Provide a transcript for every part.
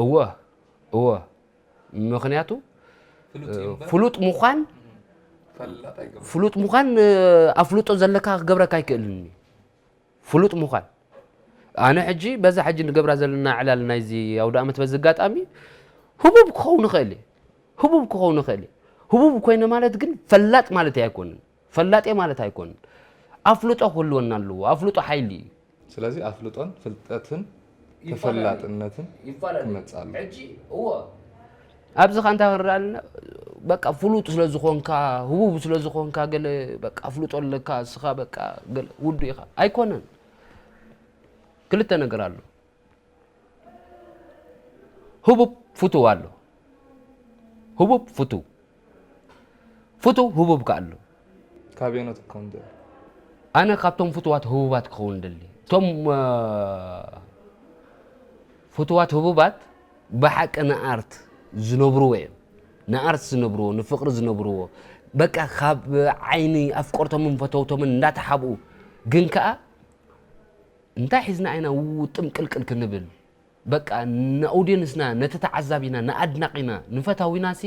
እወ እወ ምክንያቱ ፍሉጥ ምዃን ፍሉጥ ምዃን ኣፍልጦ ዘለካ ክገብረካ ኣይክእልን እዩ ፍሉጥ ምዃን ኣነ ሕጂ በዛ ሕጂ ንገብራ ዘለና ዕላል ናይዚ ኣውደኣመት በዚ ኣጋጣሚ ህቡብ ክኸውን ይኽእል እየ ህቡብ ክኸውን ይኽእል እየ ህቡብ ኮይነ ማለት ግን ፈላጥ ማለት ኣይኮንን ፈላጥ እየ ማለት ኣይኮንን ኣፍልጦ ክህልወና ኣለዎ ኣፍልጦ ሓይሊ እዩ ስለዚ ኣፍልጦን ፍልጠትን ተፈላጥነትን ይፋለጥ ክመጽእ ኣለዎ። ሕጂ እወ ኣብዚ ከ እንታይ ክንርኢ ኣለና በቃ ፍሉጥ ስለ ዝኾንካ ህቡብ ስለ ዝኾንካ ገለ በቃ ኣፍልጦ ኣለካ እስኻ በቃ ገለ ውዱ ኢኻ ኣይኮነን ክልተ ነገር ኣሎ ህቡብ ፍቱው ኣሎ ህቡብ ፍቱው ፍቱው ህቡብ ከኣ ኣሎ። ካበየኖት ክትከውን ትደሊ? ኣነ ካብቶም ፍቱዋት ህቡባት ክኸውን እደሊ። እቶም ፍቱዋት ህቡባት ብሓቂ ንኣርት ዝነብርዎ እዮም። ንኣርት ዝነብርዎ፣ ንፍቕሪ ዝነብርዎ፣ በቃ ካብ ዓይኒ ኣፍቀርቶምን ፈተውቶምን እንዳተሓብኡ ግን ከኣ እንታይ ሒዝና ኢና ውጥም ቅልቅል ክንብል? በቃ ንኣውድየንስና ነቲ ተዓዛቢና ንኣድናቂና ንፈታዊናሲ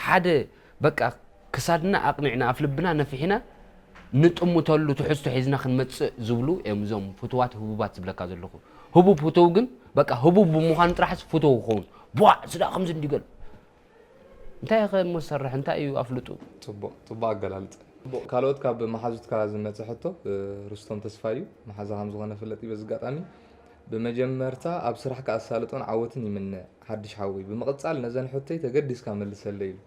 ሓደ በቃ ክሳድና ኣቅኒዕና ኣፍልብና ነፊሒና ንጥምተሉ ትሕዝቶ ሒዝና ክንመጽእ ዝብሉ እዮም እዞም ፍቱዋት ህቡባት ዝብለካ ዘለኹ ህቡብ ፍቱው ግን በቃ ህቡብ ብምዃኑ ጥራሕስ ፍቱው ክኸውን ቧዕ ስዳ ከምዚ እንዲበል እንታይ ኢኸ እሞ ዝሰርሕ እንታይ እዩ ኣፍልጡ። ጽቡቕ ጽቡቕ ኣገላልጻ። ካልኦት ካብ መሓዙትካ ዝመጸ ሕቶ ርስቶም ተስፋይ እዩ መሓዛ ከም ዝኾነ ፍለጥ እዩ በዚ ኣጋጣሚ ብመጀመርታ ኣብ ስራሕካ ኣሳልጦን ዓወትን ይምነ ሓድሽ ሓወይ ብምቕጻል ነዘን ሕቶይ ተገዲስካ መልሰለይ ኢሉ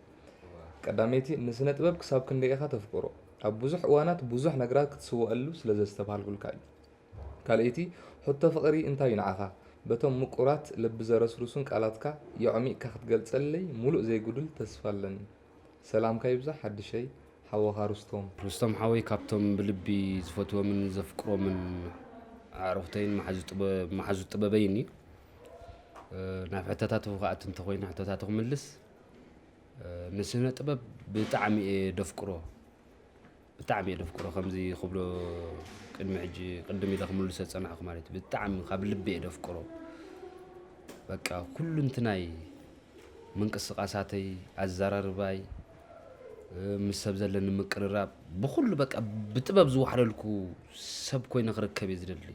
ቀዳመይቲ ንስነ ጥበብ ክሳብ ክንደይ ኢኻ ተፍቅሮ ኣብ ብዙሕ እዋናት ብዙሕ ነገራት ክትስወኣሉ ስለ ዘስተብሃልኩልካ እዩ ካልኣይቲ ሕቶ ፍቅሪ እንታይ እዩ ንዓኻ? በቶም ምቁራት ልቢ ዘረስርሱን ቃላትካ የዕሚቅካ ክትገልጸለይ ሙሉእ ዘይጉዱል ተስፋ ኣለኒ። ሰላምካ ይብዛሕ ሓድሸይ ሓወኻ ሩስቶም። ሩስቶም ሓወይ ካብቶም ብልቢ ዝፈትዎምን ዘፍቅሮምን ኣዕሩኽተይን መሓዙት ጥበበይን እዩ። ናብ ሕቶታትኹ ክኣቱ እንተኾይነ ሕቶታቱ ክምልስ ንስነ ጥበብ ብጣዕሚ እየ ደፍቅሮ። ብጣዕሚ እየ ደፍቅሮ ከምዚ ክብሎ ቅድሚ ሕጂ ቅድም ኢለ ክምልሶ ዝጸናሕኩ ማለት እዩ ብጣዕሚ ካብ ልቢ እየ ደፍቅሮ በቃ ኩሉንትናይ ምንቅስቃሳተይ ኣዛራርባይ ምስ ሰብ ዘለኒ ምቅርራብ ብኩሉ በቃ ብጥበብ ዝዋሕለልኩ ሰብ ኮይነ ክርከብ እየ ዝደሊ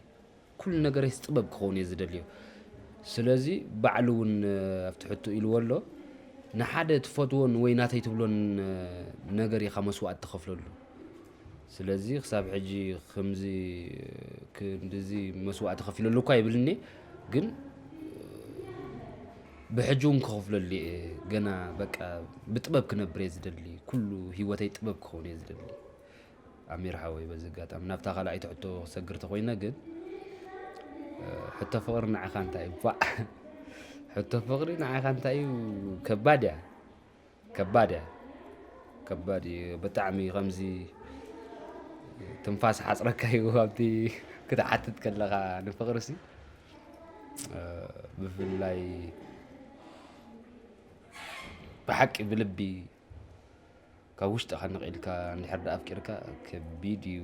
ኩሉ ነገረይስ ጥበብ ክኸውን እየ ዝደልዮ ስለዚ ባዕሉ ውን ኣብቲ ሕቶ ኢልዎ ኣሎ ንሓደ ትፈትዎን ወይ ናተይ ትብሎን ነገር ኢኻ መስዋእቲ ትኸፍለሉ ስለዚ ክሳብ ሕጂ ከምዚ ክንድዚ መስዋእቲ ከፊለሉ እኳ ይብልኒ ግን ብሕጂ እውን ክኸፍለሉ እየ ገና በቃ ብጥበብ ክነብር እየ ዝደሊ ኩሉ ሂወተይ ጥበብ ክኸውን እየ ዝደሊ ኣሚር ሓወይ በዚ ኣጋጣሚ ናብታ ካልኣይቲ ሕቶ ክሰግር ተኮይነ ግን ሕቶ ፍቅሪ ንዓኻ እንታይ እዩ ባ ሕቶ ፍቅሪ ንዓኻ እንታይ እዩ ከባድ እያ ከባድ እያ ከባድ እዩ ብጣዕሚ ከምዚ ትንፋስ ሓፅረካ እዩ ኣብቲ ክትሓትት ከለኻ ንፍቅሪ ሲ ብፍላይ ብሓቂ ብልቢ ካብ ውሽጥኻ ንቕ ኢልካ እንድሕር ደኣ ኣፍቂርካ ከቢድ እዩ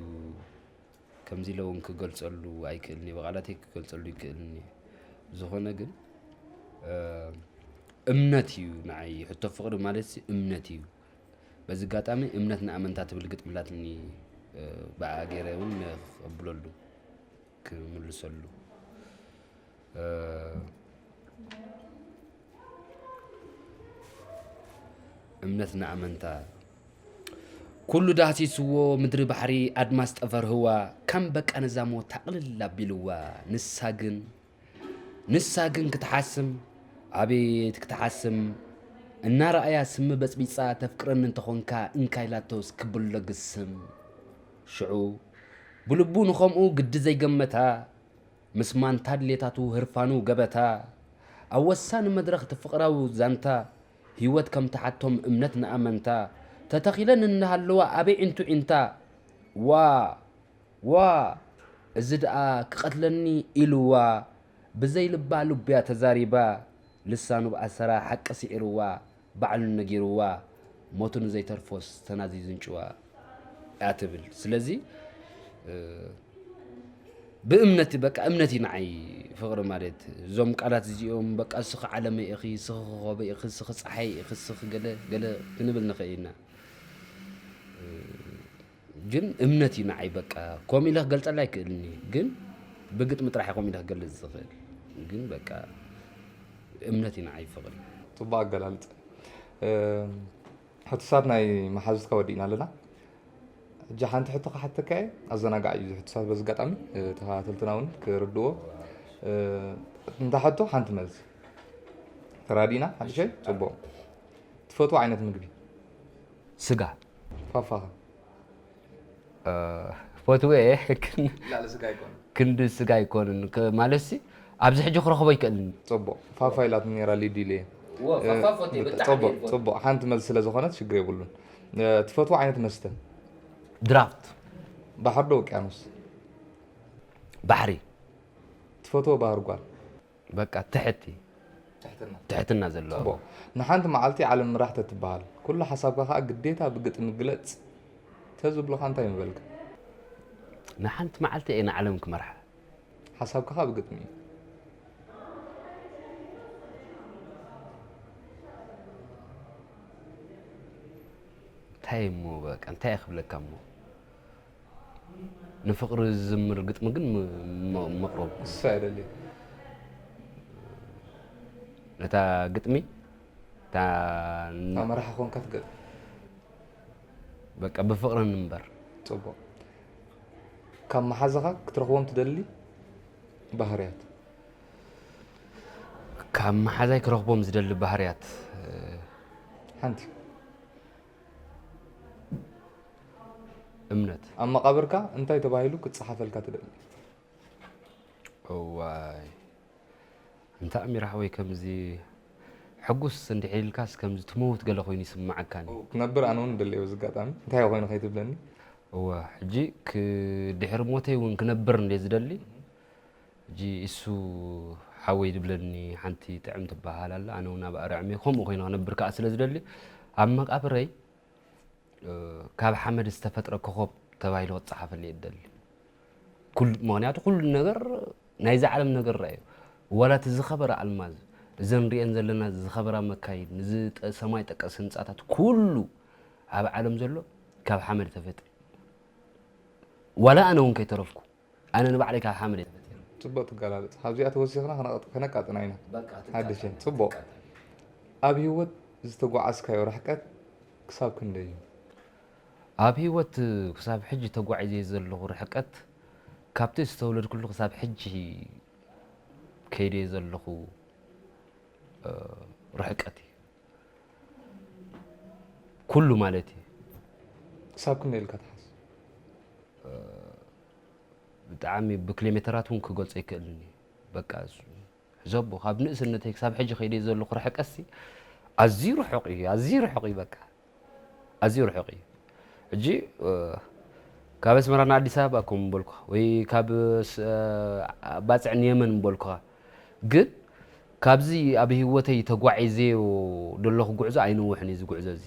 ከምዚ ኢለ እውን ክገልጸሉ ኣይክእልን እየ ብቓላተይ ክገልጸሉ ይክእልን እየ ዝኾነ ግን እምነት እዩ ንዓይ ሕቶ ፍቅሪ ማለት እምነት እዩ በዚ ኣጋጣሚ እምነት ንኣመንታ ትብል ግጥምላትኒ ብኣ ገይረ እውን ከብለሉ ክምልሰሉ እምነት ንኣመንታ ኩሉ ዳህሲስዎ ምድሪ ባሕሪ ኣድማስ ጠፈር ህዋ ከም በቃ ንዛሞ ታቕልል ኣቢልዋ ንሳ ግን ንሳ ግን ክትሓስም ኣቤት ክትሓስም እናረኣያ ስሚ በፅቢፃ ተፍቅረኒ እንተኾንካ እንካይላቶስ ክብሎ ግስም ሽዑ ብልቡ ንኸምኡ ግዲ ዘይገመታ፣ ምስ ማንታ ድሌታቱ ህርፋኑ ገበታ፣ ኣብ ወሳኒ መድረኽ እቲ ፍቕራዊ ዛንታ፣ ህይወት ከም ትሓቶም እምነት ንኣመንታ፣ ተተኺለን እናሃለዋ ኣበይ ዒንቱ ዒንታ፣ ዋእ! ዋእ! እዚ ደኣ ክቐትለኒ ኢሉዋ፣ ብዘይ ልባ ልቡ'ያ ተዛሪባ፣ ልሳኑ ብኣሰራ ሓቂ ስዒሩዋ፣ ባዕሉ ነጊርዋ ሞቱ ንዘይተርፎስ ተናዚዙ እንጭዋ እያ ትብል ስለዚ ብእምነት በቃ እምነት እዩ ንዓይ ፍቕሪ ማለት እዞም ቃላት እዚኦም በቃ እስኺ ዓለመ ኢኺ እስኺ ክኸበ ኢኺ እስኺ ፀሓይ ኢኺ እስኺ ገለ ገለ ክንብል ንኽእል ኢና ግን እምነት እዩ ንዓይ በቃ ከምኡ ኢለ ክገልፀላ ኣይክእልን እዩ ግን ብግጥሚ ጥራሕ ከምኡ ኢለ ክገልፅ ዝኽእል ግን በቃ እምነት እዩ ንዓይ ፍቕሪ ፅቡቅ ኣገላልፀ ሕቱሳት ናይ መሓዙትካ ወዲእና ኣለና እጃ ሓንቲ ሕቶ ክሓተካ እየ ኣዘናጋዕ እዩ ዝሕቱሳት በዚ ኣጋጣሚ ተኸታተልትና እውን ክርድዎ እንታ ሕቶ ሓንቲ መልሲ ተራዲና ሓድሸይ ፅቡቅ ትፈትዎ ዓይነት ምግቢ ስጋ ፋፋ ፈትወ እየ ክንዲ ስጋ ኣይኮንን ማለትሲ ኣብዚ ሕጂ ክረኽቦ ይክእልኒ ፅቡቅ ፋፋ ኢላትኒ ነራ ሊዱ ኢለ ፅቡቅ ፅቡቅ ሓንቲ መልሲ ስለ ዝኾነት ሽግር የብሉን ትፈትዎ ዓይነት መስተ ድራፍት ባሕሪ ዶ ውቅያኖስ ባሕሪ ትፈትዎ ባህር ጓል በቃ ትሕቲ ትሕትና ትሕትና ዘለዋ ጽቡቕ ንሓንቲ መዓልቲ ዓለም ምራሕ ተትበሃል ኩሉ ሓሳብካ ከኣ ግዴታ ብግጥሚ ግለጽ ተዝብሉኻ እንታይ ምበልካ? ንሓንቲ መዓልቲ እየ ንዓለም ክመርሓ። ሓሳብካ ከኣ ብግጥሚ እዩ። እንታይ እሞ በቃ እንታይ ክብለካ እሞ ንፍቅሪ ዝዝምር ግጥሚ ግን መቅሮብ ክሳ ይደሊ ነታ ግጥሚ እታ መራሒ ኮንካ ትገጥ በቃ ብፍቅሪ ንንበር ፅቡቅ ካብ መሓዛኻ ክትረኽቦም ትደሊ ባህርያት ካብ መሓዛይ ክረኽቦም ዝደሊ ባህርያት ሓንቲ እምነት ኣብ መቓብርካ እንታይ ተባሂሉ ክጸሓፈልካ ትደሊ? እዋይ እንተ ኣሚር ሓወይ ከምዚ ሕጉስ እንድሕር ኢልካስ ከምዚ ትመውት ገለ ኮይኑ ይስምዓካኒ። ክነብር ኣነ እውን እደሊ በዚ ኣጋጣሚ እንታይ ኮይኑ ከይትብለኒ። እወ ሕጂ ድሕሪ ሞተይ እውን ክነብር እንድየ ዝደሊ ሕጂ ኢሱ ሓወይ ዝብለኒ ሓንቲ ጥዕም ትበሃል ኣላ ኣነ ውን ኣብ ኣርዕሜ ከምኡ ኮይነ ክነብር ከኣ ስለ ዝደሊ ኣብ መቃብረይ ካብ ሓመድ ዝተፈጥረ ኮኾብ ተባሂሉ ክጸሓፈኒ እየ ዝደሊ ምክንያቱ ኩሉ ነገር ናይዛ ዓለም ነገር ራእዩ ዋላ እቲ ዝኸበረ ኣልማዝ እዘን ንሪኤን ዘለና ዝኸበራ መካይን እዚ ሰማይ ጠቀስ ህንፃታት ኩሉ ኣብ ዓለም ዘሎ ካብ ሓመድ ተፈጥሪ ዋላ ኣነ እውን ከይተረፍኩ ኣነ ንባዕለይ ካብ ሓመድ እየ ተፈጢረ። ጽቡቅ ትገላልጽ ካብዚኣ ተወሲኽና ከነቃጥና ኢና ሓድሸ ጽቡቅ ኣብ ሂወት ዝተጓዓዝካዮ ርሕቀት ክሳብ ክንደይ እዩ? ኣብ ሂወት ክሳብ ሕጂ ተጓዒዘዮ ዘለኹ ርሕቀት ካብቲ ዝተወለድኩሉ ክሳብ ሕጂ ከይደዮ ዘለኹ ርሕቀት እዩ። ኩሉ ማለት እዩ ክሳብ ክንደይ ኢልካ ትሓስ ብጣዕሚ ብክሌሜተራት እውን ክገልፆ ይክእልን እዩ በቃ ሕዘቦ ካብ ንእስነተይ ክሳብ ሕጂ ከይደ ዘለኹ ርሕቀሲ ኣዝዩ ርሑቕ እዩ ኣዝዩ ርሑቕ እዩ በቃ ኣዝዩ ርሑቕ እዩ ሕጂ ካብ ኣስመራ ንኣዲስ ኣበባ ከም ምበልኩኻ ወይ ካብ ባፅዕ ንየመን ምበልኩኻ ግን ካብዚ ኣብ ሂወተይ ተጓዒዘዮ ደለኹ ጉዕዞ ኣይነውሕን እዩ እዚ ጉዕዞ እዚ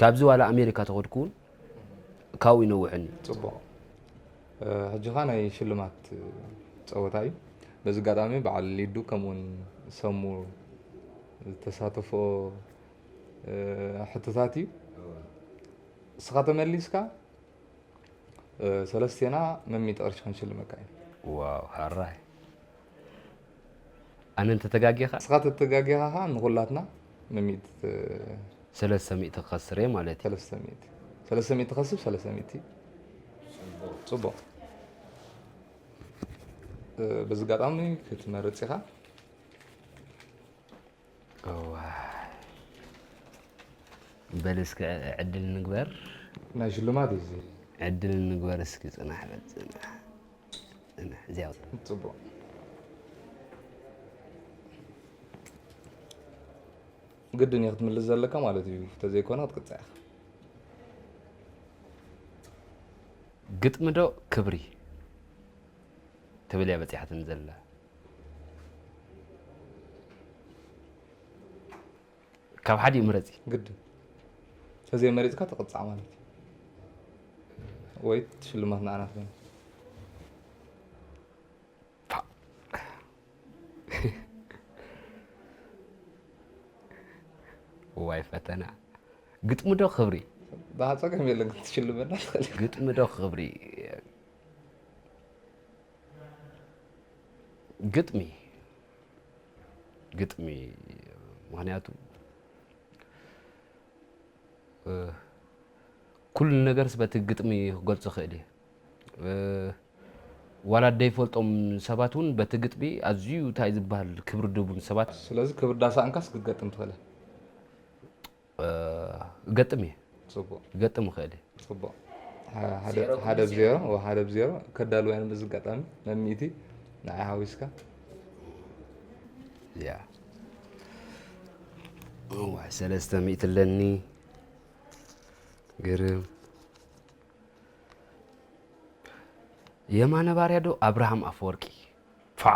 ካብዚ ዋላ ኣሜሪካ ተኸድኩ ውን ካብኡ ኣይነውሕን እዩ። ጽቡቕ ሕጂ ከኣ ናይ ሽልማት ጸወታ እዩ በዚ ኣጋጣሚ በዓል ሊዱ ከምኡ ውን ሰሙ ዝተሳተፍኦ ሕቶታት እዩ እስኻ ተመሊስካ ሰለስቴና መሚት ቕርሺ ክንሽልመካ ኢና። ዋው ሐራይ ኣነ እንተ ተጋጊኻ። እስኻ ተተጋጊኻ ኸኣ ንኹላትና ምሚእቲ። ሰለስተ ሚእቲ ክኸስር እየ ማለት እዩ። ሰለስተ ሚእቲ ሰለስተ ሚእቲ ከስብ ሰለስተ ሚእቲ ጽቡቕ በዚ ኣጋጣሚ ክትመርጽ ኢኻ። እዋይ በል እስኪ ዕድል ንግበር ናይ ሽልማት እዩ እዚ ዕድል ንግበር እስኪ ፅናሕ በል ፅናሕ ፅናሕ እዚያ ውፅእ ፅቡቅ ግድን እዩ ክትምልስ ዘለካ ማለት እዩ ተዘይኮነ ክትቅፅዕ ኢኻ ግጥሚ ዶ ክብሪ ትብል እያ በፂሓትኒ ዘላ ካብ ሓዲኡ ምረጺ ግድን ተዘይ መሪፅካ ትቕፃዕ ማለት እዩ ወይ ሽልማት ንዓና ትኾይኑ ዋይ ፈተና ግጥሚ ዶ ክብሪ ብሃፀገም የለን ክትሽልመና ትኽእል ግጥሚ ዶ ክብሪ ግጥሚ ግጥሚ ምክንያቱ ኩሉ ነገርስ በቲ ግጥሚ ክገልፆ ክእል እየ ዋላ ደይፈልጦም ሰባት እውን በቲ ግጥሚ ኣዝዩ እንታይ ዝበሃል ክብሪ ድቡን ሰባት ስለዚ ክብሪ ዳሳእንካስ ክትገጥም ትኽእል እገጥም እየ ክገጥም ይኽእል እየ ፅቡቅ ሓደ ብ ዜሮ ሓደ ብ ዜሮ ከዳልዋ እዮም እዚ ኣጋጣሚ መሚእቲ ንዓይ ሓዊስካ ያ ዋይ ሰለስተ ሚእቲ ኣለኒ ግርም የማነ ባርያ ዶ ኣብርሃም ኣፈወርቂ ፋ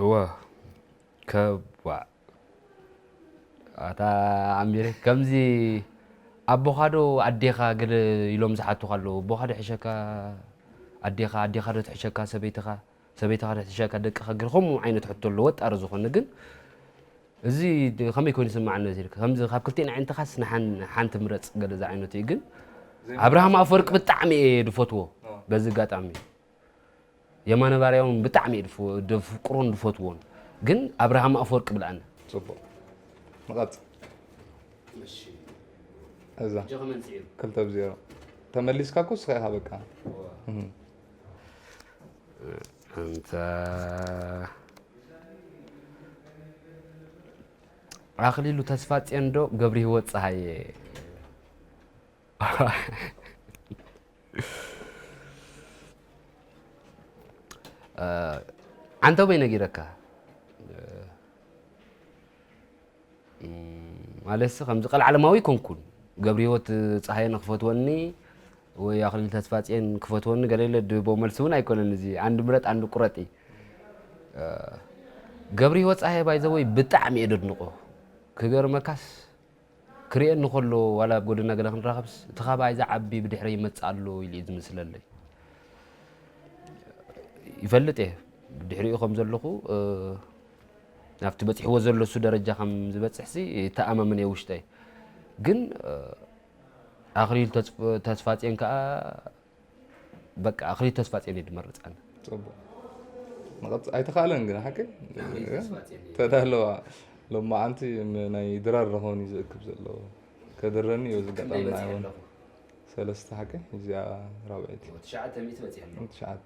እወ ከባእ ኣታ ኣሚረ ከምዚ ኣቦኻዶ ኣዴኻ ገለ ኢሎም ዝሓቱኻ ኣለዉ ኣቦኻዶ ሕሸካ ኣዴኻ ኣዴኻዶ ትሕሸካ ሰበይትኻ ሰበይትኻዶ ትሕሸካ ደቅኻ ገለ ከምኡ ዓይነት ሕቶ ኣሎ ወጣሪ ዝኾነ ግን እዚ ከመይ ኮይኑ ይስማዓኒ ነዚ ኢልካ ከምዚ ካብ ክልቲኤን ኣዒንትኻስ ንሓን ሓንቲ ምረጽ ገለ ዝዓይነቱ እዩ ግን ኣብርሃም ኣፈወርቂ ብጣዕሚ እየ ድፈትዎ በዚ ኣጋጣሚ የማነ ባርያ እውን ብጣዕሚ እዩ ደፍቅሮን ድፈትዎን ግን ኣብርሃም ኣፈወርቂ ብልኣኒ ጽቡቅ ንቐጽ እዛ ክልተ ብ ዜሮ ተመሊስካ እኮ ስኻ ኢኻ በቃ ኣንታ ኣኽሊሉ ተስፋጽዮን ዶ ገብሪሂወት ፀሃየ ዓንተቦይ ነጊረካ ማለትሲ ከምዚ ቀልዓለማዊ ኣይኮንኩን ገብሪሂወት ፀሃየን ክፈትወኒ ወይ ኣክሊል ተስፋፅየን ክፈትወኒ ገለለ ድህቦ መልሲ እውን ኣይኮነን እዚ ኣንድ ምረጥ ኣንድ ቁረጥ እዩ ገብሪሂወት ፀሃየ ባይዘወይ ብጣዕሚ እየ ደድንቆ ክገርመካስ ክርኤኒ ከሎ ዋላ ኣብ ጎደና ገለ ክንራኸብስ እቲ ካባይ ዝዓቢ ብድሕረ ይመፅእ ኣሎ ኢሉ እዩ ዝምስለለይ ይፈልጥ እየ ብድሕሪኡ ከም ዘለኹ ናብቲ በጺሕዎ ዘሎሱ ደረጃ ከም ዝበጽሕሲ ይተኣማመን እየ ውሽጠይ ግን ኣኽሊሉ ተስፋጽዮን ከኣ በቃ ኣኽሊሉ ተስፋጽዮን እዩ ድመርጽ ኣነ ጽቡቅ መቐጽ ኣይተኻእለን ግን ሓቂ ተዳለዋ ሎማዓንቲ ናይ ድራር ረኾን እዩ ዝእክብ ዘለዎ ከድረኒ እዩ ዝጋጣሚ ናይውን ሰለስተ ሓቂ እዚኣ ራብዒት ትሽዓተ ትሽዓተ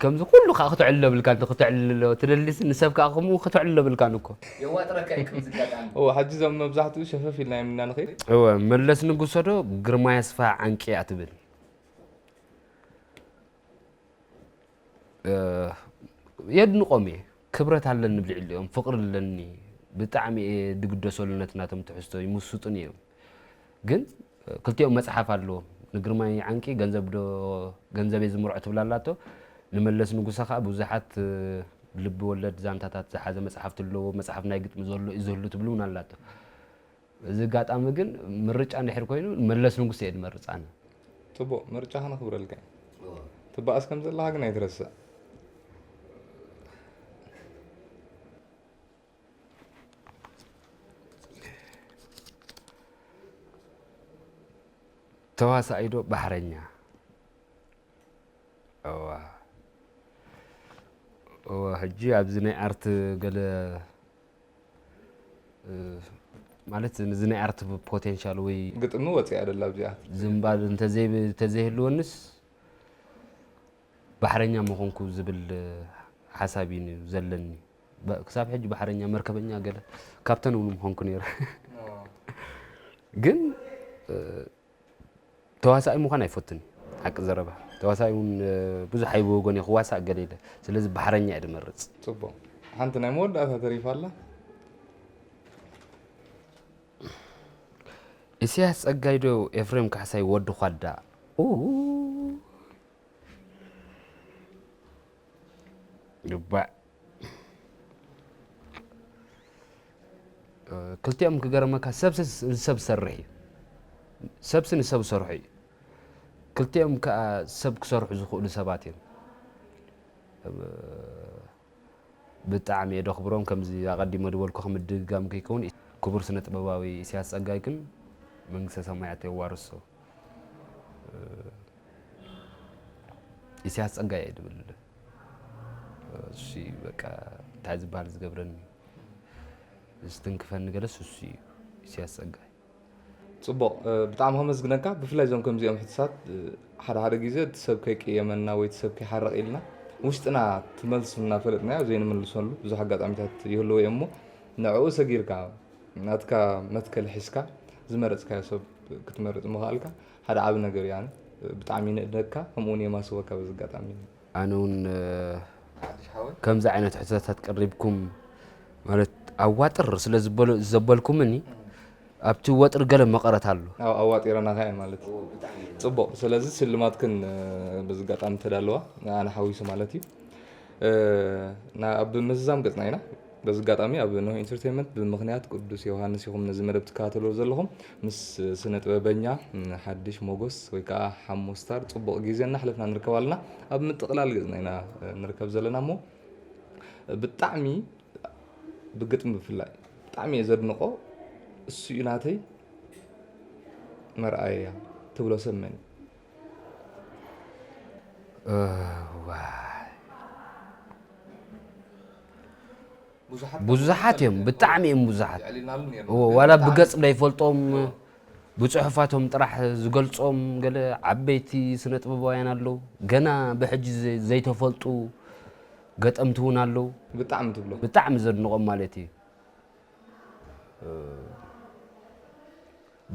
ከምዚ ኩሉ ከኣ ክተዕልሎ የብልካን እንተ ክተዕልሎ ትደሊሲ ንሰብ ከኣ ከምኡ ክተዕልሎ የብልካን እኮ። የዋጥረካ እዩ ከምዚ ጋጣሚ። እወ ሐጂ እዞም መብዛሕትኡ ሸፈፍ ኢልናዮም ኢና ንኸይድ። እወ መለስ ንጉሰ ዶ ግርማይ ኣስፍሃ ዓንቂ እያ ትብል። የድንቆም እየ ክብረት ኣለኒ ብልዕሊኦም ፍቅሪ ኣለኒ ብጣዕሚ እየ ድግደሰሉ ነቲ ናቶም ትሕዝቶ ይምሱጡኒ እዮም። ግን ክልቲኦም መጽሓፍ ኣለዎም ንግርማይ ዓንቂ ገንዘብ ዶ ገንዘብ እየ ዝምርዖ ትብል ኣላቶ ንመለስ ንጉሰ ከዓ ብዙሓት ልቢ ወለድ ዛንታታት ዝሓዘ መጽሓፍቲ ኣለዎ መጽሓፍ ናይ ግጥሚ ዘሎ እዩ ዝህሉ ትብል እውን ኣላቶ እዚ ኣጋጣሚ ግን ምርጫ እንድሕር ኮይኑ መለስ ንጉሰ እየ ድመርፅ ኣነ ፅቡቅ ምርጫ ከነኽብረልካ ትበኣስ ከም ዘለካ ግን ኣይትረስዕ ተዋሳኣይ ዶ ባሕረኛ እዋ እዋ ሕጂ ኣብዚ ናይ ኣርት ገለ ማለት እዚ ናይ ኣርት ፖቴንሻል ወይ ግጥሚ ወፂኣ ደላ ኣብዚኣ ዝምባል እንተዘይህልወንስ ባሕረኛ ምኾንኩ ዝብል ሓሳብ እዩ ዘለኒ ክሳብ ሕጂ ባሕረኛ መርከበኛ ገለ ካፕተን እውን ምኾንኩ ነይረ ግን ተዋሳኢ ምዃን ኣይፈቱን ሓቂ ዘረባ ተዋሳኢ እውን ብዙሕ ኣይብወጎን እየ ክዋሳእ ገለ ኢለ ስለዚ ባሕረኛ እየ ድመርፅ ፅቡቅ ሓንቲ ናይ መወዳእታ ተሪፋ ኣላ ኢሳያስ ጸጋይ ዶ ኤፍሬም ካሕሳይ ወዲ ኳዳ ይግባእ። ክልቲኦም ክገርመካ ሰብሲ ንሰብ ዝሰርሕ እዩ ሰብሲ ንሰብ ዝሰርሑ እዩ ክልቲኦም ከዓ ሰብ ክሰርሑ ዝኽእሉ ሰባት እዮም ብጣዕሚ እየ ደኽብሮም ከምዚ ኣቐዲሞ ዝበልኩ ከምድግጋም ከይከውን ክቡር ስነ ጥበባዊ ኢሳያስ ጸጋይ ግን መንግስተ ሰማያት የዋርሶ ኢሳያስ ጸጋይ እየ ድብል እሱ እዩ በቃ እንታይ ዝበሃል ዝገብረኒ ዝትንክፈኒ ገለስ እሱ እዩ ኢሳያስ ጸጋይ ጽቡቕ ብጣዕሚ ከመስግነካ ብፍላይ እዞም ከምዚኦም ሕትሳት ሓደ ሓደ ግዜ እቲ ሰብ ከይቀየመና ወይ እቲ ሰብ ከይሓረቕ ኢልና ውሽጥና ትመልሱ እናፈለጥናዮ ዘይንምልሰሉ ብዙሕ ኣጋጣሚታት ይህልዎ እዮም እሞ ንዕኡ ሰጊርካ ናትካ መትከል ሒዝካ ዝመረጽካዮ ሰብ ክትመርጽ ምኽኣልካ ሓደ ዓቢ ነገር እዩ ኣነ ብጣዕሚ ይንእደካ ከምኡ ውን የማስወካ በዚ ኣጋጣሚ። ኣነ ውን ከምዚ ዓይነት ሕቶታት ቀሪብኩም ማለት ኣዋጥር ስለ ዘበልኩምኒ ኣብቲ ወጥሪ ገለ መቐረት ኣሎ። ኣብ ኣዋጢረናኻ እየ ማለት ጽቡቕ ስለዚ ስልማትክን በዚ ኣጋጣሚ ተዳለዋ ንኣና ሓዊሱ ማለት እዩ ኣብ ምዝዛም ገጽና ኢና። በዚ ኣጋጣሚ ኣብ ኖህ ኢንተርቴይመንት ብምኽንያት ቅዱስ ዮውሃንስ ኢኹም ነዚ መደብ ትከታተልዎ ዘለኹም። ምስ ስነ ጥበበኛ ሓድሽ ሞጎስ ወይ ከኣ ሓሙ ስታር ጽቡቕ ግዜ እናሕለፍና ንርከብ ኣለና። ኣብ ምጥቕላል ገጽና ኢና ንርከብ ዘለና እሞ ብጣዕሚ ብግጥሚ ብፍላይ ብጣዕሚ እየ ዘድንቖ እሱ እዩ ናተይ መርኣያ ትብሎ ሰብ መን እዩ? ብዙሓት እዮም ብጣዕሚ እዮም ብዙሓት ዋላ ብገፅ ዘይፈልጦም ብፅሑፋቶም ጥራሕ ዝገልፆም ገለ ዓበይቲ ስነ ጥበባውያን ኣለዉ ገና ብሕጂ ዘይተፈልጡ ገጠምቲ እውን ኣለዉ ብጣዕሚ ትብሎ ብጣዕሚ ዘድንቖም ማለት እዩ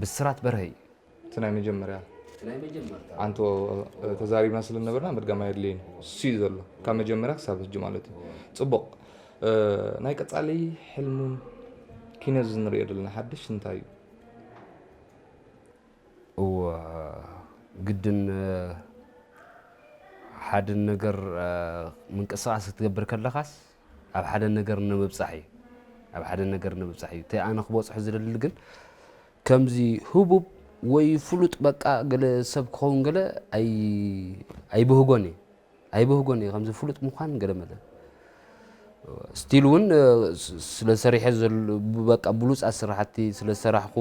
ብስራት በርሀ እዩ እቲ ናይ መጀመርያ። እቲ ናይ መጀመርታ። ኣንቶ ተዛሪብና ስለ ዝነበርና ምድጋም ኣየድልይን እሱዩ ዘሎ ካብ መጀመርያ ክሳብ ህጂ ማለት እዩ ጽቡቅ ናይ ቀጻሊ ሕልሙን ኪኖ እዚ ንሪኦ ዘለና ሓድሽ እንታይ እዩ? እወ ግድን ሓደ ነገር ምንቅስቃስ ክትገብር ከለካስ ኣብ ሓደ ነገር ንምብጻሕ እዩ ኣብ ሓደ ነገር ንምብጻሕ እዩ እቲ ኣነ ክበጽሖ ዝደሊ ግን ከምዚ ህቡብ ወይ ፍሉጥ በቃ ገለ ሰብ ክኸውን ገለ ኣይብህጎን እዩ ኣይብህጎን እዩ ከምዚ ፍሉጥ ምዃን ገለ መለ ስቲል እውን ስለ ሰሪሐ በቃ ብሉፃት ስራሕቲ ስለ ሰራሕኩ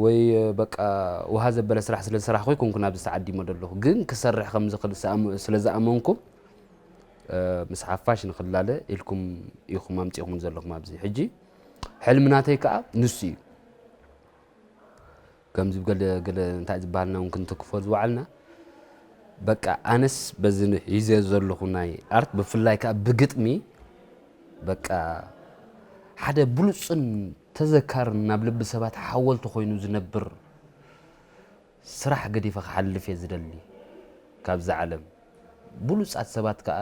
ወይ በቃ ውሃ ዘበለ ስራሕ ስለ ሰራሕኩ ይኮንኩ ናብዚ ተዓዲመ ዘለኹ ግን ክሰርሕ ከምዝኽእል ስለ ዝኣመንኩ ምስ ሓፋሽ ንክላለ ኢልኩም ኢኹም ኣምጺኹም ዘለኹም ኣብዚ ሕጂ ሕልሚ ናተይ ከዓ ንሱ እዩ ከምዚ ገለ ገለ እንታይ ዝበሃልና እውን ክንትክፎ ዝወዓልና በቃ ኣነስ በዚ ሒዘ ዘለኹ ናይ ኣርት ብፍላይ ከዓ ብግጥሚ በቃ ሓደ ብሉፅን ተዘካርን ናብ ልቢ ሰባት ሓወልቲ ኮይኑ ዝነብር ስራሕ ገዲፈ ክሓልፍ እየ ዝደሊ ካብዛ ዓለም ብሉጻት ሰባት ከኣ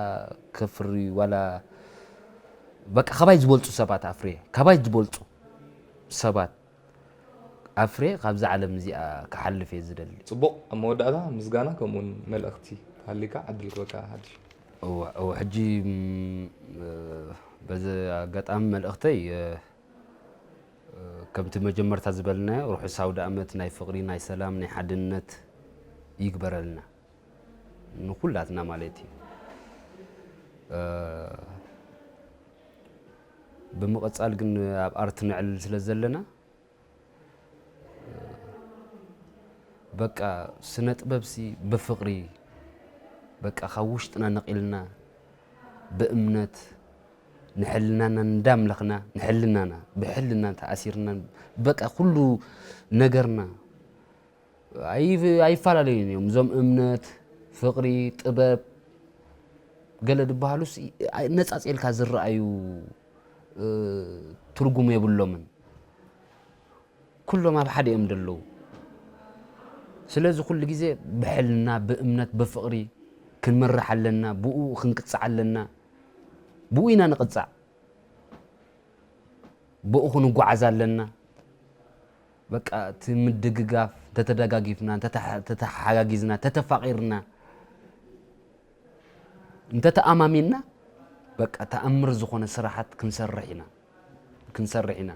ከፍሪ ዋላ በቃ ካባይ ዝበልጹ ሰባት ኣፍርየ ካባይ ዝበልጹ ሰባት ኣፍርየ ካብዛ ዓለም እዚኣ ክሓልፍ እየ ዝደሊ። ጽቡቕ ኣብ መወዳእታ ምስጋና ከምኡውን መልእኽቲ ሃልዩካ ዕድል ክበካ ሓድሽ። እወ እወ ሕጂ በዚ ኣጋጣሚ መልእኽተይ ከምቲ መጀመርታ ዝበልናዮ ርሑስ ኣውደኣመት ናይ ፍቕሪ ናይ ሰላም ናይ ሓድነት ይግበረልና ንኩላትና ማለት እዩ። ብምቕጻል ግን ኣብ ኣርት ነዕልል ስለ ዘለና በቃ ስነ ጥበብሲ ብፍቕሪ በቃ ካብ ውሽጥና ነቒልና ብእምነት ንሕልናና እንዳምለኽና ንሕልናና ብሕልና ተኣሲርና በቃ ኩሉ ነገርና ኣይፈላለዩን እዮም እዞም እምነት ፍቕሪ ጥበብ ገለ ዝበሃሉስ ነፃፂልካ ዝረኣዩ ትርጉም የብሎምን ኩሎም ኣብ ሓደ እዮም ደለዉ ስለዚ ኩሉ ግዜ ብሕልና ብእምነት ብፍቅሪ ክንምራሕ ኣለና ብኡ ክንቅጻዕ ኣለና ብኡ ኢና ንቅጻዕ ብኡ ክንጓዓዝ ኣለና በቃ እቲ ምድግጋፍ እንተተደጋጊፍና እንተተሓጋጊዝና እንተተፋቂርና እንተተኣማሚንና በቃ ተኣምር ዝኾነ ስራሓት ክንሰርሕ ኢና ክንሰርሕ ኢና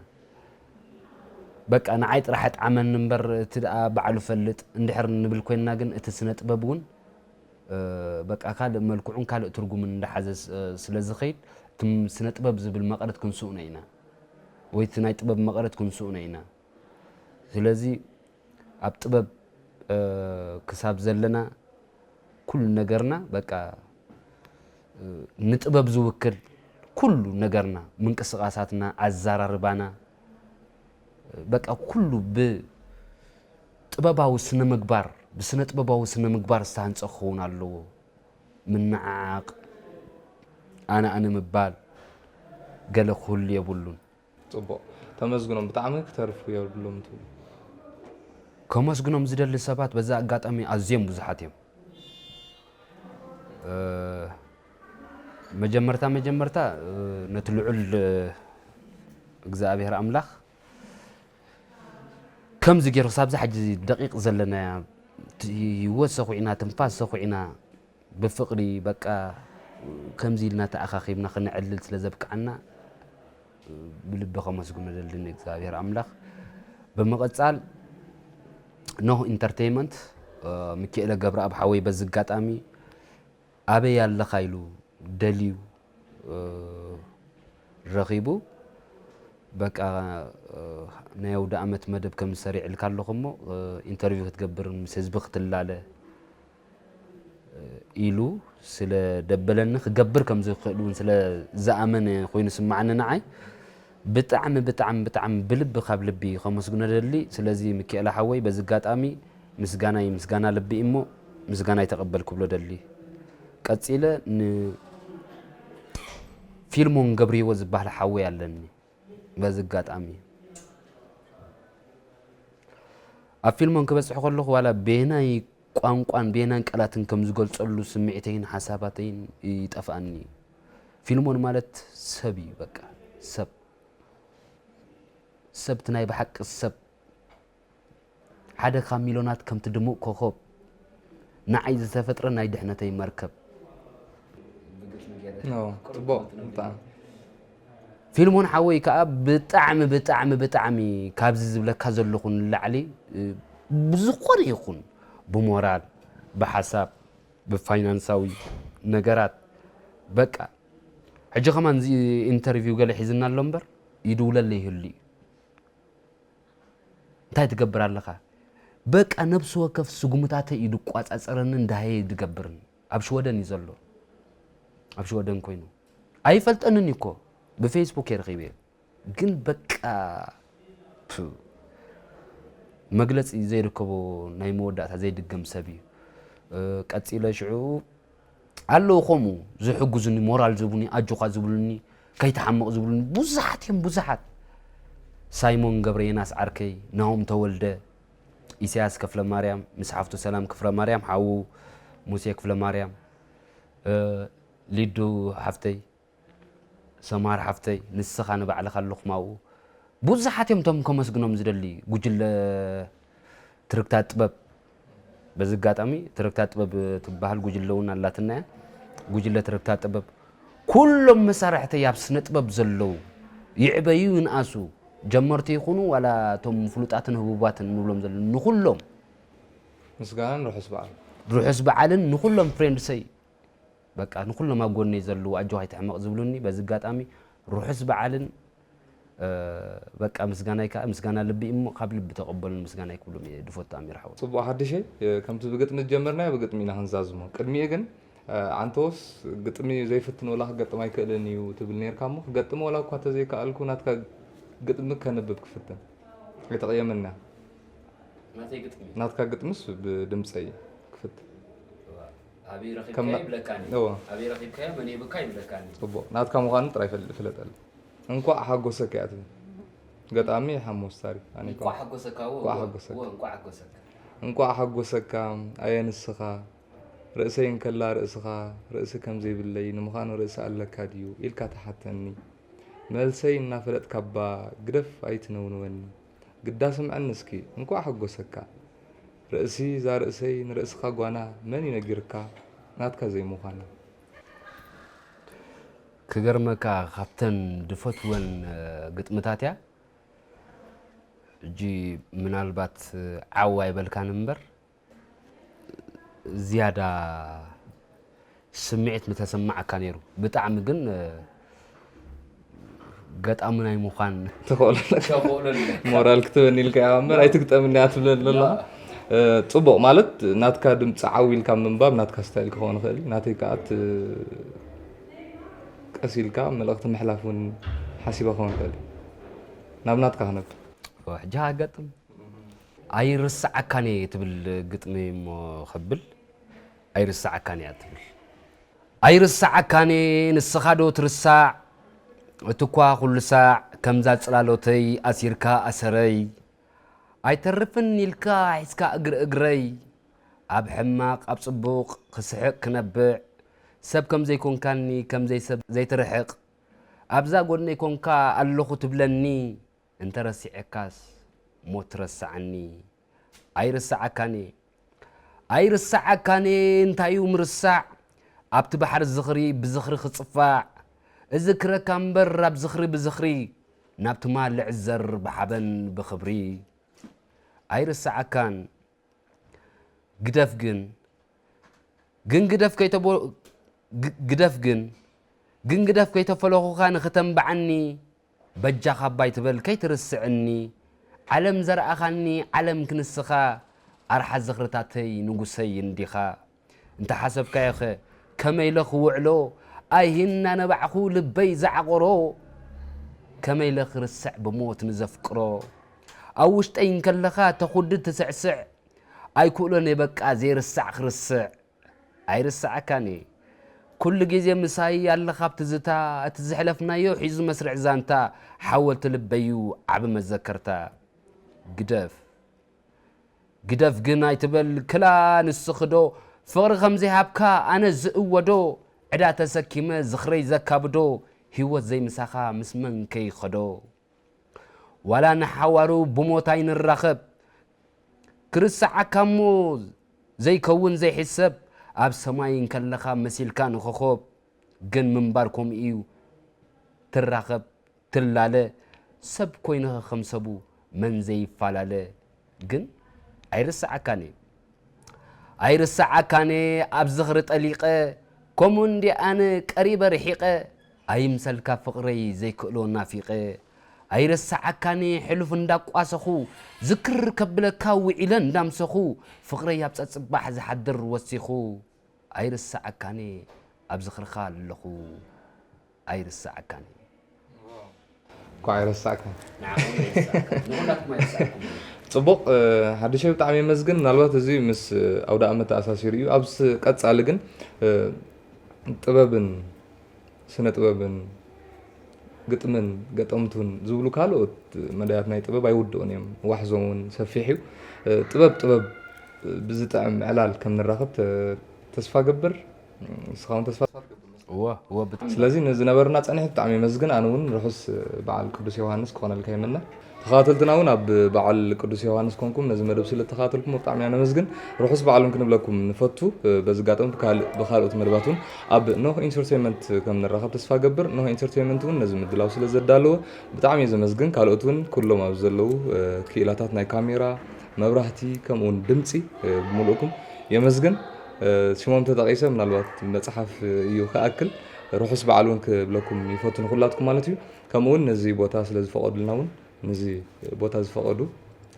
በቃ ንዓይ ጥራሕ ኣጥዓመኒ እምበር እቲ ደኣ ባዕሉ ፈልጥ እንድሕር ንብል ኮይንና ግን እቲ ስነ ጥበብ እውን በቃ ካልእ መልክዑን ካልእ ትርጉምን እንዳሓዘ ስለ ዝኸይድ እቲ ስነ ጥበብ ዝብል መቐረት ክንስእኖ ኢና ወይ እቲ ናይ ጥበብ መቐረት ክንስእኖ ኢና ስለዚ ኣብ ጥበብ ክሳብ ዘለና ኩሉ ነገርና በቃ ንጥበብ ዝውክል ኩሉ ነገርና ምንቅስቓሳትና፣ ኣዘራርባና በቃ ኩሉ ብጥበባዊ ስነ ምግባር ብስነ ጥበባዊ ስነ ምግባር ዝተሃንፀ ክኸውን ኣለዎ። ምንዓዓቕ፣ ኣነ ኣነ ምባል ገለ ክህሉ የብሉን። ጽቡቕ ተመስግኖም ብጣዕሚ ክተርፉ የብሉም ትብሉ። ከመስግኖም ዝደሊ ሰባት በዚ ኣጋጣሚ ኣዝዮም ብዙሓት እዮም። መጀመርታ መጀመርታ ነቲ ልዑል እግዝኣብሄር ኣምላኽ ከምዚ ገይሩ ክሳብዛ ሕጂ ደቂቕ ዘለናያ ህይወት ሰዂዕና ትንፋስ ሰዂዕና ብፍቕሪ በቃ ከምዚ ኢልና ተኣኻኺብና ክነዕልል ስለ ዘብቅዓና ብልቢ ከመስግኖ ደሊ ንእግዚኣብሔር ኣምላኽ። ብምቕጻል ኖህ ኢንተርቴይመንት ሚኪኤለ ገብረኣብ ሓወይ በዚ ኣጋጣሚ ኣበይ ኣለኻ ኢሉ ደልዩ ረኺቡ በቃ ናይ ኣውደ ኣመት መደብ ከም ዝሰሪዕልካ ኣለኹ እሞ ኢንተርቪው ክትገብርን ምስ ህዝቢ ክትላለ ኢሉ ስለ ደበለኒ ክገብር ከም ዝክእል ውን ስለ ዝኣመነ ኮይኑ ስማዓኒ ንዓይ ብጣዕሚ ብጣዕሚ ብጣዕሚ ብልቢ ካብ ልቢ ከመስግኖ ደሊ ስለዚ ምኪኤለ ሓወይ በዚ ኣጋጣሚ ምስጋናይ ምስጋና ልቢ ኢሞ ምስጋናይ ተቀበል ክብሎ ደሊ ቀጺለ ን ፊልሞን ገብሪሂወት ዝባህል ሓወይ ኣለኒ በዚ ኣጋጣሚ ኣብ ፊልሞን ክበጽሕ ከለኹ ዋላ በየናይ ቋንቋን በየናን ቃላትን ከም ዝገልጸሉ ስምዒተይን ሓሳባተይን ይጠፍኣኒ እዩ። ፊልሞን ማለት ሰብ እዩ በቃ ሰብ ሰብቲ ናይ ብሓቂ ሰብ ሓደ ካብ ሚሎናት ከምቲ ድሙቕ ኮኾብ ንዓይ ዝተፈጥረ ናይ ድሕነተይ መርከብ። ፊልሞን ሓወይ ከዓ ብጣዕሚ ብጣዕሚ ብጣዕሚ ካብዚ ዝብለካ ዘለኹ ንላዕሊ ብዝኾነ ይኹን ብሞራል ብሓሳብ ብፋይናንሳዊ ነገራት በቃ ሕጂ ከማን ኢንተርቪው ገለ ሒዝና ኣሎ እምበር ይድውለለይ ይህሉ እዩ። እንታይ ትገብር ኣለኻ? በቃ ነብሲ ወከፍ ስጉምታተይ እዩ ዝቋጻጸረንን ዳህየይ ዝገብርን። ኣብ ሽወደን እዩ ዘሎ። ኣብ ሽወደን ኮይኑ ኣይፈልጠንን እዩ እኮ ብፌስቡክ እየ ረኺበዮ ግን በቃ ቱ መግለጺ ዘይርከቦ ናይ መወዳእታ ዘይድገም ሰብ እዩ። ቀጺለ ሽዑ ኣለዉ ከምኡ ዝሕግዙኒ ሞራል ዝህቡኒ ኣጆኻ ዝብሉኒ ከይትሓምቕ ዝብሉኒ ብዙሓት እዮም ብዙሓት ሳይሞን ገብረየናስ ዓርከይ ናሆም ተወልደ ኢሳያስ ከፍለ ማርያም ምስ ሓፍቱ ሰላም ክፍረ ማርያም ሓዉ ሙሴ ክፍለ ማርያም ሊዱ ሓፍተይ ሰምሃር ሓፍተይ ንስኻ ንባዕልኻ ሉኽማኡ ቡዙሓት እዮም እቶም ከመስግኖም ዝደሊ ጉጅለ ትርግታ ጥበብ በዚ ኣጋጣሚ ትርግታ ጥበብ ትበሃል ጉጅለ እውን ኣላትና እያ ጉጅለ ትርግታ ጥበብ ኩሎም መሳርሕተይ ኣብ ስነ ጥበብ ዘለዉ ይዕበዩ ይንኣሱ ጀመርቲ ይኹኑ ዋላ እቶም ፍሉጣትን ህቡባትን ንብሎም ዘለና ንኹሎም ምስጋናን ርሑስ በዓል ርሑስ በዓልን ንኹሎም ፍሬንድሰይ በቃ ንኩሎም ኣብ ጎነይ ዘለዉ ኣጆካ ኣይትሕመቅ ዝብሉኒ በዚ ኣጋጣሚ ሩሑስ በዓልን በቃ ምስጋናይ ከኣ ምስጋና ልቢ እዩ እሞ ካብ ልቢ ተቀበሉኒ ምስጋናይ ክብሎም እየ ድፈቱ ኣሚር ሓወይ። ጽቡቅ ሓድሸይ ከምቲ ብግጥሚ ዝጀመርናዮ ብግጥሚ ኢና ክንዛዝሞ ቅድሚኡ ግን ኣንተወስ ግጥሚ ዘይፍትን ወላ ክገጥም ኣይክእልን እዩ ትብል ኔርካ እሞ ክገጥም ወላ እኳ ተዘይከኣልኩ ናትካ ግጥሚ ከንብብ ክፍትን ኣይተቅየመና ናተይ ግጥሚ ናትካ ግጥምስ ብድምጸይ ክፍትን። ኣበይ ረኺብካያ ይብለካኒ እወ ኣበይ ረኺብካያ መን ሂብካ ይብለካኒ ጽቡቕ ናትካ ምዃኑ ጥራይ ፈል- ፍለጠሉ እንኳዕ ሓጎሰካ እያ ትብል ገጣሚ ሓሙስ ታሪክ ኣነ እንኳዕ ኣይኮንኩን። ሓጎሰካ እወ እንኳዕ እወ፣ ሓጎሰካ። እወ እንኳዕ ሓጎሰካ እንኳዕ ሓጎሰካ ኣየ ንስኻ ርእሰይ እንከላ ርእስኻ ርእሲ ከምዘይብለይ ንምዃኑ ርእሲ ኣለካ ድዩ ኢልካ ትሓተኒ መልሰይ እናፈለጥካ'ባ ግደፍ ኣይትነውንወኒ ግዳ ስምዐኒ እስኪ እንኳዕ ሐጎሰካ ርእሲ ዛርእሰይ ንርእስካ ጓና መን እዩ ነጊርካ ናትካ ዘይምኳና። ክገርመካ ካብተን ድፈትወን ግጥምታት እያ ሕጂ ምናልባት ዓው ኣይበልካን እምበር ዝያዳ ስምዒት ምተሰማዓካ ነይሩ ብጣዕሚ ግን ገጣሚ ናይ ምዃን ሞራል ክትበኒ ኢልካ ኢኻ እምበር ኣይትግጠምኒ እያ ትብለ ኣለላ ፅቡቕ ማለት ናትካ ድምፂ ዓው ኢልካ ምንባብ ናትካ ስታይል ክኸውን ይኽእል እዩ ናተይ ከዓ ቀስ ኢልካ መልእኽቲ ምሕላፍ እውን ሓሲበ ክኸውን ይኽእል እዩ ናብ ናትካ ክነብ ሕጂ ሃገጥም ኣይርሰዓካን እየ ትብል ግጥሚ እሞ ከብል ኣይርሰዓካን እያ ትብል ኣይርሰዓካን እየ ንስኻ ዶ ትርሳዕ እቲኳ ኩሉ ሳዕ ከምዛ ጽላሎተይ ኣሲርካ ኣሰረይ ኣይተርፍን ኢልካ ሒዝካ እግሪ እግረይ ኣብ ሕማቕ ኣብ ጽቡቕ ክስሕቕ ክነብዕ ሰብ ከም ዘይኮንካኒ ከም ዘይሰብ ዘይትርሕቕ ኣብዛ ጎድነይ ኮንካ ኣለኹ ትብለኒ እንተ ረሲዐካስ ሞት ረስዓኒ ኣይርስዓካን'የ ኣይርስዓካን'የ እንታዩ ምርሳዕ ኣብቲ ባሕሪ ዝኽሪ ብዝኽሪ ክጽፋዕ እዝክረካ እምበር ኣብ ዝኽሪ ብዝኽሪ ናብ ትማል ልዕዘር ብሓበን ብኽብሪ ኣይርስዓካን ግደፍ ግን ግን ግደፍ ከይተቦ ግደፍ ግን ግን ግደፍ ከይተፈለኹካ ንኽተንብዓኒ በጃኻ ኣባይ ትበል ከይትርስዕኒ ዓለም ዘርኣኻኒ ዓለም ክንስኻ ኣርሓ ዝኽርታተይ ንጉሰይ እንዲኻ እንተሓሰብካዮኸ ከመይ ኢለ ክውዕሎ ኣይሂ እናነባዕኩ ልበይ ዝዓቖሮ ከመይ ኢለ ክርስዕ ብሞት ንዘፍቅሮ ኣብ ውሽጠይ እንከለኻ ተኹድድ ትስዕስዕ ኣይክእሎን'የ በቃ ዘይርሳዕ ክርስዕ ኣይርስዓካን እየ ኩሉ ግዜ ምሳይ ኣለኻ ብ ትዝታ እቲ ዝሕለፍናዮ ሒዙ መስርዕ ዛንታ ሓወልቲ ልበይ'ዩ ዓቢ መዘከርታ ግደፍ ግደፍ ግን ኣይትበል ክላ ንስኺ'ዶ ፍቕሪ ከም ዘይሃብካ ኣነ ዝእወዶ ዕዳ ተሰኪመ ዝኽረይ ዘካብዶ ሂወት ዘይምሳኻ ምስ መን ከይኸዶ። ዋላ ንሓዋሩ ብሞት ኣይንራኸብ ክርሰዓካ'ሞ ዘይከውን ዘይሕሰብ ኣብ ሰማይ እንከለኻ መሲልካ ንኾኾብ ግን ምንባር ከምኡ'ዩ ትራኸብ ትላለ ሰብ ኮይንኻ ከም ሰቡ መን ዘይፋላለ ግን ኣይርስዓካን እየ ኣይርስዓካን እየ ኣብ ዝኽሪ ጠሊቐ ከምኡ እንዴ ኣነ ቀሪበ ርሒቐ ኣይምሰልካ ፍቕረይ ዘይክእሎ ናፊቐ ኣይርስዓካን እየ ሕሉፍ እንዳቋሰኹ ዝክር ከብለካ ውዒለ እንዳምሰኹ ፍቕረይ ኣብ ጸጽባሕ ዝሓድር ወሲኹ ኣይርስዓካን እየ ኣብ ዝኽርኻ ኣለኹ ኣይርሳዓካን እዩ። እንኳዕ ኣይረሳዕካ ፅቡቕ ሓድሸይ ብጣዕሚ የመስግን ምናልባት እዚ ምስ ኣውደ ኣመት ተኣሳሲሩ እዩ ኣብ ቀፃሊ ግን ጥበብን ስነ ጥበብን ግጥምን ገጠምቱን ዝብሉ ካልኦት መዳያት ናይ ጥበብ ኣይውድኡን እዮም ዋሕዞም እውን ሰፊሕ እዩ ጥበብ ጥበብ ብዝጥዕም ዕላል ከም ንራኸብ ተስፋ ገብር ንስኻ እውን ተስፋ ትገብር ስለዚ ንዝነበርና ፀኒሒ ብጣዕሚ የመስግን ኣነ እውን ርሑስ በዓል ቅዱስ ዮሃንስ ክኾነልካ ይምነ ተኸታተልትና እውን ኣብ በዓል ቅዱስ ዮሃንስ ኮንኩም ነዚ መደብ ስለ ተኸታተልኩም ብጣዕሚ ኢና ነመስግን ርሑስ በዓል እውን ክንብለኩም ንፈቱ በዚ ኣጋጣሚ ብካልኦት መደባት እውን ኣብ ኖህ ኢንተርቴንመንት ከም ንራኸብ ተስፋ ገብር ኖህ ኢንተርቴንመንት እውን ነዚ ምድላው ስለ ዘዳለዎ ብጣዕሚ እየ ዘመስግን ካልኦት እውን ኩሎም ኣብ ዘለዉ ክኢላታት ናይ ካሜራ መብራህቲ ከምኡውን ድምጺ ብምሉእኩም የመስግን። ሽሞም ተጠቂሰ ምናልባት መጽሓፍ እዩ ክኣክል ርሑስ በዓል እውን ክብለኩም ይፈቱ ንኩላትኩም ማለት እዩ። ከምኡውን ነዚ ቦታ ስለ ዝፈቀዱልና እውን ነዚ ቦታ ዝፈቀዱ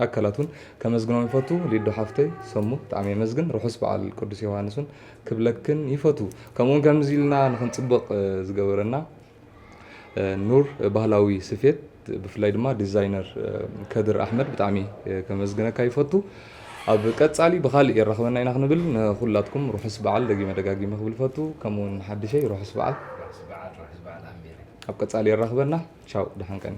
ኣካላት እውን ከመስግኖም ይፈቱ። ሊዱ ሓፍተይ ሰሙ ብጣዕሚ የመስግን። ርሑስ በዓል ቅዱስ ዮውሃንስ እውን ክብለክን ይፈቱ። ከምኡውን ከምዚ ኢልና ንክንጽብቅ ዝገበረና ኑር ባህላዊ ስፌት ብፍላይ ድማ ዲዛይነር ከድር ኣሕመድ ብጣዕሚ ከመስግነካ ይፈቱ ኣብ ቀጻሊ ብካልእ የራኽበና ኢና ክንብል ንኩላትኩም ርሑስ በዓል ደጊመ ደጋጊመ ክብል ፈቱ ከምኡውን ሓድሸይ ርሑስ በዓል ኣብ ቀጻሊ የራኽበና ቻው ደሓን ቀኒ